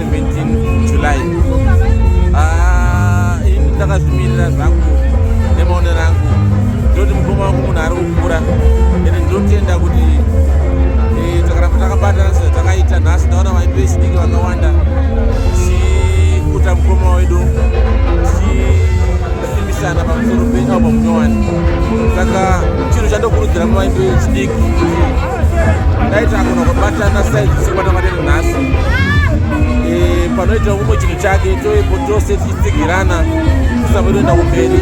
17 July ah, ini ndakazvimirira zvangu nemaonero angu ndoti mukoma wangu munhu ari kukura ende ndinotenda kuti eh, takaramba takabatana sezvo takaita nhasi ndaona vaipi vechidiki vakawanda tichikuta mukoma wedu tichisimbisana pamusoro penyaupa munyowani saka chinhu chandokurudzira mavaipi vechidiki ndaita kuno kubatana saizi sikwata matene nhasi eh, panoita kumwe chinhu chake toipo tose tichitsigirana kusamba toenda kumberi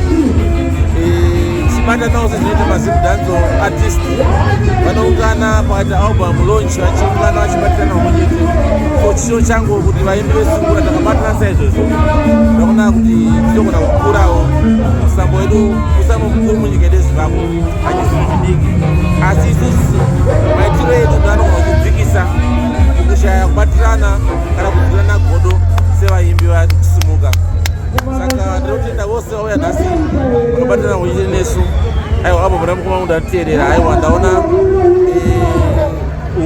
eh, tichibatanawo sezvinoita mazim danzo artist vanoungana pakati album launch vachiungana vachibatirana vamwe chete so chisho changu kuti vaimbi vesungura takabatana saizvozvo ndakuona kuti tinogona kukurawo musambo wedu musambo mukuru munyika yedu yezimbabwe asi isusu maitiro edu ndanogona kudzikisa mukushaya kubatirana kana kuvirana godo sevaimbi vasimuka saka ndinotenda vose vauya nhasi vanobatirana kuchite nesu aiwa abo muna mukoma munhu atiteerera aiwa ndaona eh,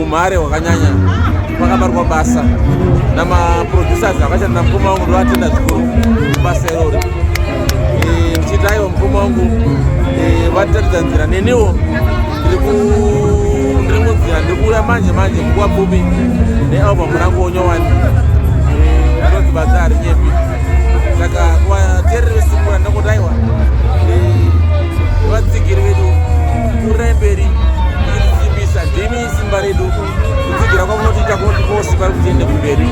umhare hwakanyanya vakabarwa basa namaproducers vakashandira mukoma wangu ndovatenda zvikuru basa irori eh, ndichiitaiwo mukoma wangu eh, vatiratidza nzira neniwo ndiri munzira ndiri kuuya manje manje nguva pfupi nealbum rangu onyowani eh, rinonzi basa harinyepi saka kuvaterere vesimura ndakotaiwa vatsigiri vedu Kuremberi kusimbisa ndimi simba redu kutsigira kwakunotiita kunoti kose pari kutiende kumberi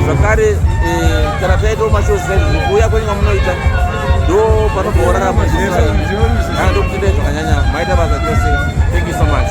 zvakare eh, kana taitawo mashozi saizvozvo kuuya kwenyika munoita ndo panobva orarama zvinaa ndokuti ndai zvakanyanya maita basa chose thank you so much